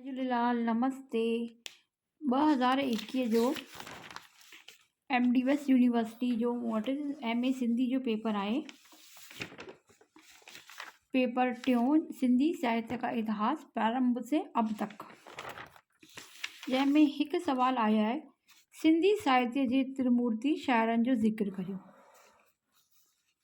جي جهليلال نمستي ٻه هزار ايڪيهه جو ايم ڊي ويس يونيورسٽي جو مون وٽ ايم اي سنڌي جو پيپر آهي پيپر ٽيون سنڌي ساهتيه ڪا اتهاس پرارمڀ سي اب تڪ جنهن ۾ هڪ سوال آيو آهي سنڌي ساهتيه جي ترمورتي شاعرن جو ذڪر ڪريو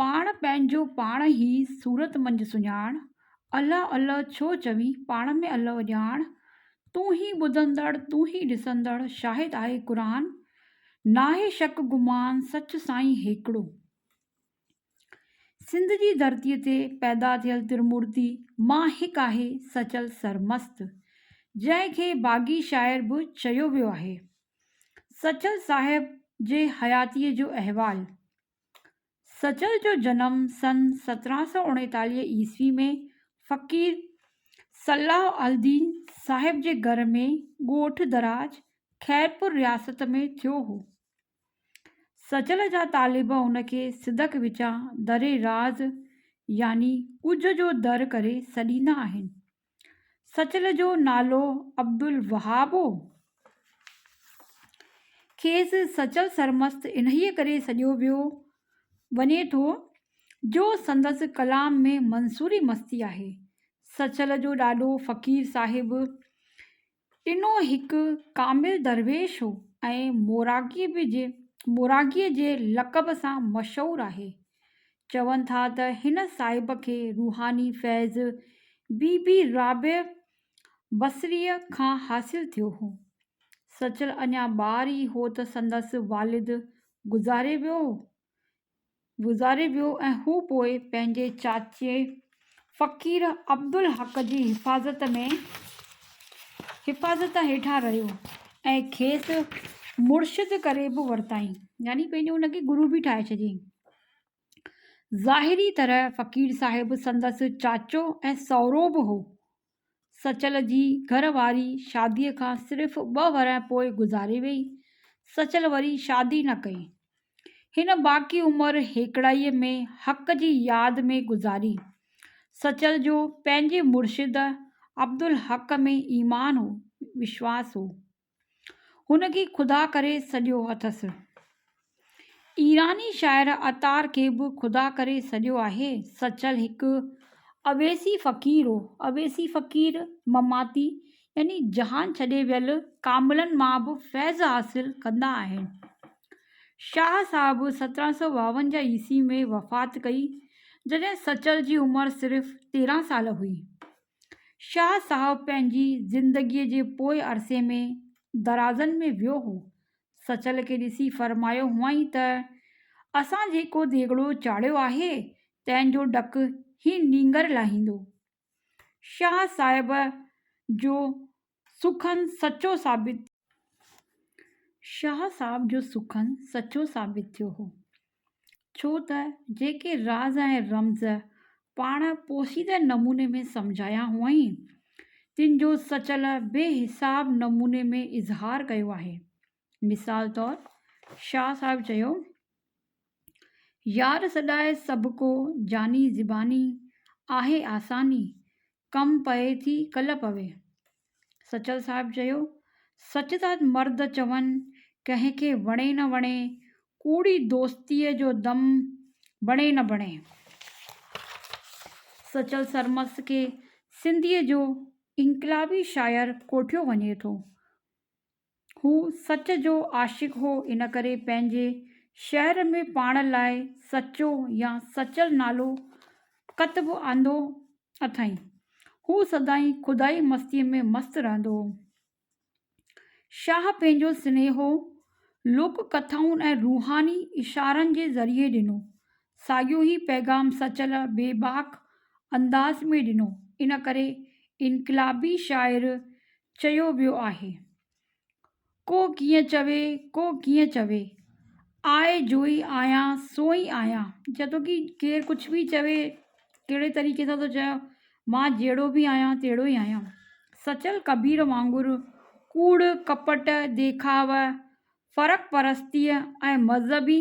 پاڻ پنهنجو پاڻ هي صورت منجهه سڃاڻ الله الله ڇو چوي پاڻ ۾ الله ڄاڻ تون هي ٻڌندڙ تون هي ڏسندڙ شاهد آهي قرآن ناهي شڪ گمان سچ سائين هيڪڙو سنڌ جي ڌرتي تي پيدا ٿيل ترمورتي مان هڪ آهي سچل سرمست جنهن کي باغي شاعر به چيو ويو آهي سچل صاحب جي حياتي جو احوال سچل جو جنم سن سترهن سؤ اڻيتاليهه عيسوي ۾ فقير صلاح الدين صاحب جي گهر ۾ ڳوٺ دراج خيرپور رياست ۾ ٿيو هو. سچل جا طالب ان کي صدق وچان دري راز يعني ڳجهه جو در ڪري سڏيندا آهن. سچل جو نالو عبدالوهاب هو. کيس سچل سرمست انهيء ڪري سڏيو ويو وڃي ٿو جو سندس ڪلام ۾ منصوري مستي آهي. سچل جو ڏاڏو فقير صاحب ٽنو هڪ ڪامل درويش هو ۽ موراڳيء جي لقب سان مشهور آهي. چون ٿا ته هن صاحب کي روحاني فيض بي بي رابعه بصريء کان حاصل ٿيو هو. سچل اڃا ٻار ئي هو ته سندس والد گذاري ويو هو. گذاري ويو ۽ هو پوء پنهنجي چاچي فقير عبدالحق جي حفاظت ۾ حفاظت هيٺان رهيو ۽ کيس مرشد ڪري به ورتائين يعني پنهنجو ان کي گرو به ٺاهي ڇڏيائين. ظاهري طرح فقير صاحب سندس چاچو ۽ سهرو به هو سچل جي گهر واري شاديء کان صرف ٻه ورهه پوء گذاري ويئي. سچل وري شادي نه ڪئي. هن باقي عمر هيڪڙائيء ۾ حق جي ياد ۾ گذاري. سچل جو پنهنجي مرشد عبدالحق ۾ ايمان هو، وشواس هو. هن کي خدا ڪري سڏيو اٿس. ايراني شاعر عطار کي به خدا ڪري سڏيو آهي. سچل هڪ اويسي فقير هو. اويسي فقير مماتي يعني جهان ڇڏي ويل ڪاملن مان به فيض حاصل ڪندا آهن. شاهه صاحب سترهن سؤ ٻاونجاهه عيسوي ۾ وفات ڪئي، جڏهن سچل جي عمر صرف تيرهن سال هئي. شاهه صاحب پنهنجي زندگيء جي پوء عرصي ۾ درازن ۾ ويو هو. سچل کي ڏسي فرمايو هئائين ته، اسان جيڪو ديڳڙو چاڙهيو آهي، تنهن جو ڊڪ هي نينگر لاهيندو. شاهه صاحب جو سخن سچو ثابت ٿيو. شاهه صاحب جو سخن سچو ثابت ٿيو هو، ڇو ته جيڪي راز ۽ رمز پاڻ پوشيده نموني ۾ سمجهايا هئائين، تن جو سچل بي حساب نموني ۾ اظهار ڪيو آهي. مثال طور شاهه صاحب چيو، يار سڏائي سڀ ڪو، جاني زباني، آهي آساني، ڪم پئي ٿي ڪل پوي. سچل صاحب چيو، سچ ٿا مرد چون، ڪنهن کي وڻي نه وڻي، ڪوڙي دوستيء جو دم بڻي نه بڻي. سچل سرمست کي سنڌيء جو انقلابي شاعر ڪوٺيو وڃي ٿو. هو سچ جو عاشق هو ان ڪري پنهنجي شهر ۾ پاڻ لاء سچو يا سچل نالو ڪتب آندو اٿائين. هو سدائين خدائي مستيء ۾ مست رهندو هو. شاهه پنهنجو سنيهو لوڪ ڪٿائن ۽ روحاني اشارن جي ذريعي ڏنو. ساڳيو هي پيغام سچل بي باڪ انداز ۾ ڏنو ان ڪري انقلابي شاعر چيو ويو آهي. ڪو ڪيئن چوي ڪو ڪيئن چوي آء جوئي آهيان سوئي آهيان جيتوڪي ڪير ڪجهه به چوي ڪهڙي طريقي سان ٿو چوي مان جهڙو به آهيان تهڙو ئي آهيان سچل ڪبير وانگر ڪوڙ ڪپٽ ديکاء فرق پرستيء ۽ مذهبي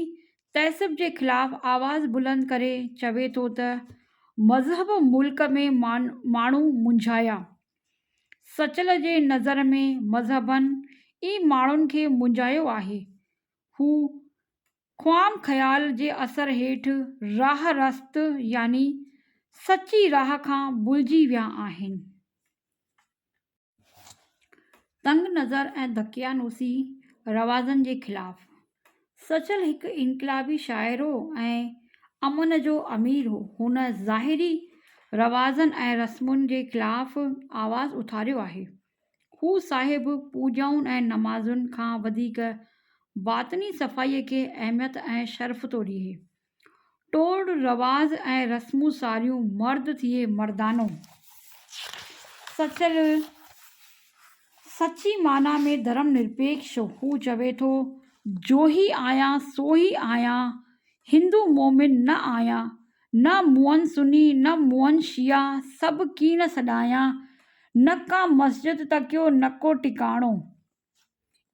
تعصب جي خلاف آواز بلند ڪري چوي ٿو ته مذهب ملڪ ۾ ماڻهو منجهايا. سچل جي نظر ۾ مذهبن ئي ماڻهن کي منجهايو آهي. هو خام خيال جي اثر هيٺ راهه رست يعني سچي راهه کان ڀلجي ويا آهن. تنگ نظر ۽ دقيانوسي روازن جي خلاف. سچل هڪ انقلابي شاعر هو ۽ امن جو امير هو. هن ظاهري روازن ۽ رسمن جي خلاف آواز اٿاريو آهي. هو صاحب پوڄائن ۽ نمازن کان وڌيڪ باطني صفائيء کي اهميت ۽ شرف ٿو ڏئي. ٽوڙ رواز ۽ رسمون ساريون، مرد ٿئي مردانو. سچل سچي معنيٰ ۾ ڌرم نرپيڪش هو. هو چوي ٿو، جوهي آهيان سوهي آهيان، هندو مومن نه آهيان، نه مونهن سني نه مونهن شيعا، سڀ ڪيڻ سڏايان، نه ڪا مسجد تڪيو نه ڪو ٽڪاڻو.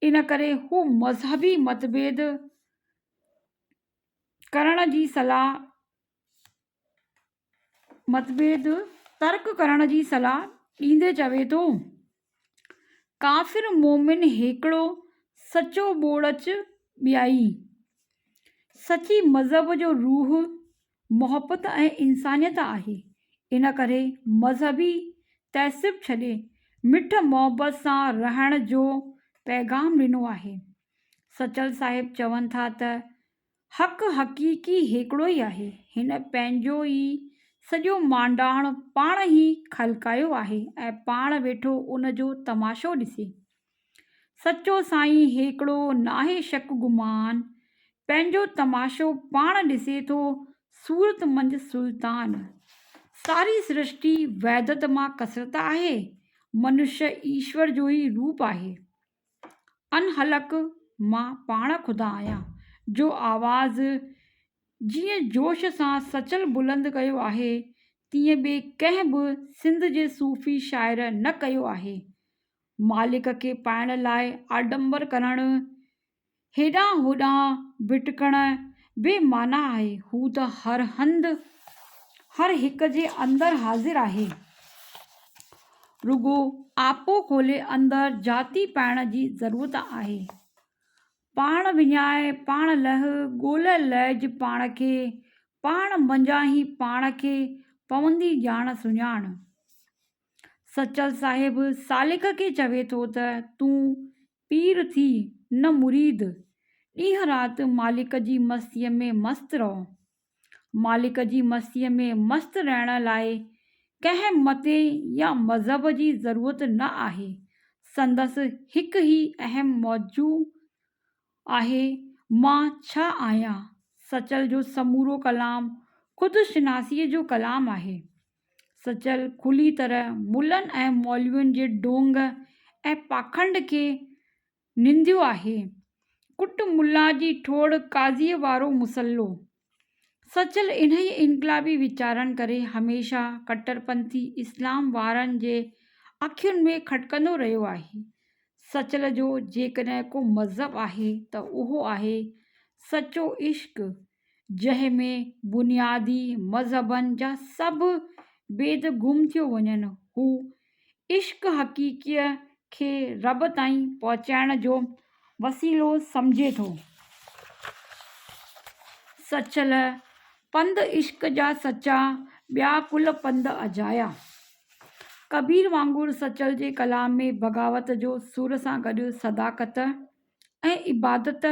ان ڪري هو مذهبي متڀيد ڪرڻ جي صلاح متڀيد ترڪ ڪرڻ جي صلاح ڏيندي چوي ٿو ڪافر مومن هيڪڙو سچو ٻوڙچ ٻيائي سچي مذهب جو روح محبت ۽ انسانيت آهي ان ڪري مذهبي تهسب ڇڏي مٺ محبت سان رهڻ جو پيغام ڏنو آهي سچل صاحب چون ٿا ته حق حقيقي هيڪڙو ئي آهي، هن پنهنجو ئي سڄو مانڊاڻ پاڻ ئي خلقايو آهي ۽ پاڻ ويٺو ان جو تماشو ڏسي. سچو سائين هيڪڙو، ناهي شڪ گمان، پنهنجو تماشو پاڻ ڏسي ٿو صورت منجهه سلطان. ساري سرشٽي وحدت مان ڪثرت آهي، منشيٰ ايشور جو ئي روپ آهي. انهلڪ مان پاڻ خدا آهيان جو آواز جيئن جوش سان سچل بلند ڪيو آهي تيئن ٻي ڪنهن به سنڌ جي صوفي شاعر نه ڪيو آهي مالڪ کي پائڻ لاء آڏمبر ڪرڻ هيڏانهن هوڏانهن ڀٽڪڻ بي معنيٰ آهي. هو ته هر هنڌ، هر هڪ جي اندر حاضر آهي. رڳو آپو کولي اندر جاتي پائڻ جي ضرورت آهي. پاڻ وڃائي، پاڻ لهه، ڳولهه لهج پاڻ کي، پاڻ منجهان ئي پاڻ کي پوندي ڄاڻ سڃاڻ. سچل صاحب سالڪ کي چوي ٿو ته تون پير ٿي نه مريد، ڏينهن رات مالڪ جي مستيء ۾ مست رهو. مالڪ جي مستيء ۾ مست رهڻ لاء ڪنهن مت يا مذهب جي ضرورت نه آهي، سندس هڪ ئي اهم موضوع آهي، مان ڇا آهيان؟ سچل جو سمورو ڪلام خود شناسيء جو ڪلام آهي. سچل کلي طرح ملن ۽ مولوين جي ڍونگ ۽ پاکنڊ کي ننديو آهي. ڪٽ ملا جي ٺوڙ قاضيء وارو مسئلو. سچل انهيء انقلابي ويچارن ڪري هميشه ڪٽرپنٿي اسلام وارن جي اکين ۾ کٽڪندو رهيو آهي. سچل جو جيڪڏهن ڪو مذهب آهي ته اهو آهي سچو عشق جنهن ۾ بنيادي مذهبن جا سڀ بيد گم ٿيو وڃن. هو عشق حقيقيء کي رب تائين پهچائڻ جو وسيلو سمجهي ٿو. سچل پنڌ عشق جا سچا، ٻيا ڪل پنڌ اجايا. ڪبير وانگر سچل جي ڪلام ۾ بغاوت جو سر سان گڏ صداقت ۽ عبادت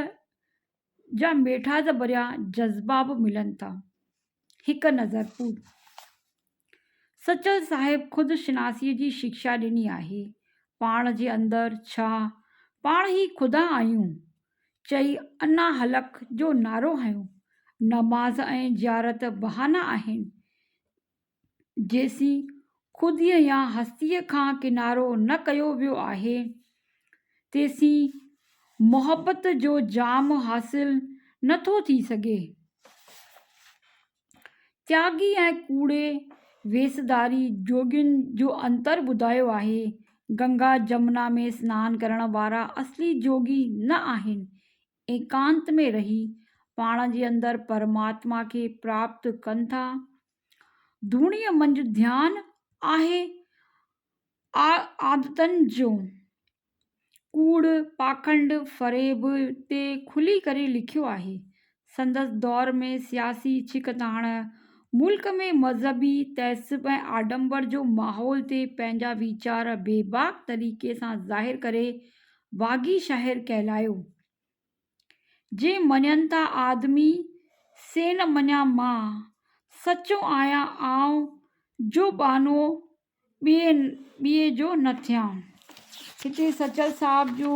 جا ميٺاس ڀريا جذبا به ملن ٿا. هڪ نظر پور سچل صاحب خود شناسيء جي شڪشا ڏني آهي، پاڻ جي اندر ڇا، پاڻ ئي خدا آهيون چئي انا حلق جو نعرو هنيو. نماز ۽ زيارت بهانا آهن، جيسين خوديء يا هستيء کان ڪنارو نه ڪيو ويو آهي، تيسين محبت جو جام حاصل نه ٿو ٿي سگهي. تياڳي ۽ ڪوڙي ويسڌاري جوڳين جو انتر ٻڌايو آهي. گنگا جمنا ۾ سنان ڪرڻ وارا اصلي جوڳي نه آهن. ايڪانت ۾ رهي پاڻ جي اندر پرماتما کي پراپت ڪن ٿا. ڌوڻيء منجهه ڌيان آهي عادتن جو. ڪوڙ، پاکنڊ، فريب تي کلي ڪري لکيو آهي. سندس دور ۾ سياسي ڇڪتاڻ، ملڪ ۾ مذهبي تعصب ۽ آڏمبر جو ماحول تي پنهنجا ويچار بيباڪ طريقي سان ظاهر ڪري باغي شاعر ڪهلايو. جي مڃن ٿا آدمي سي نه مڃان مان، سچو آهيان آئون جو ٻانهو ٻئي جو نه ٿيان. هتي سچل صاحب جو.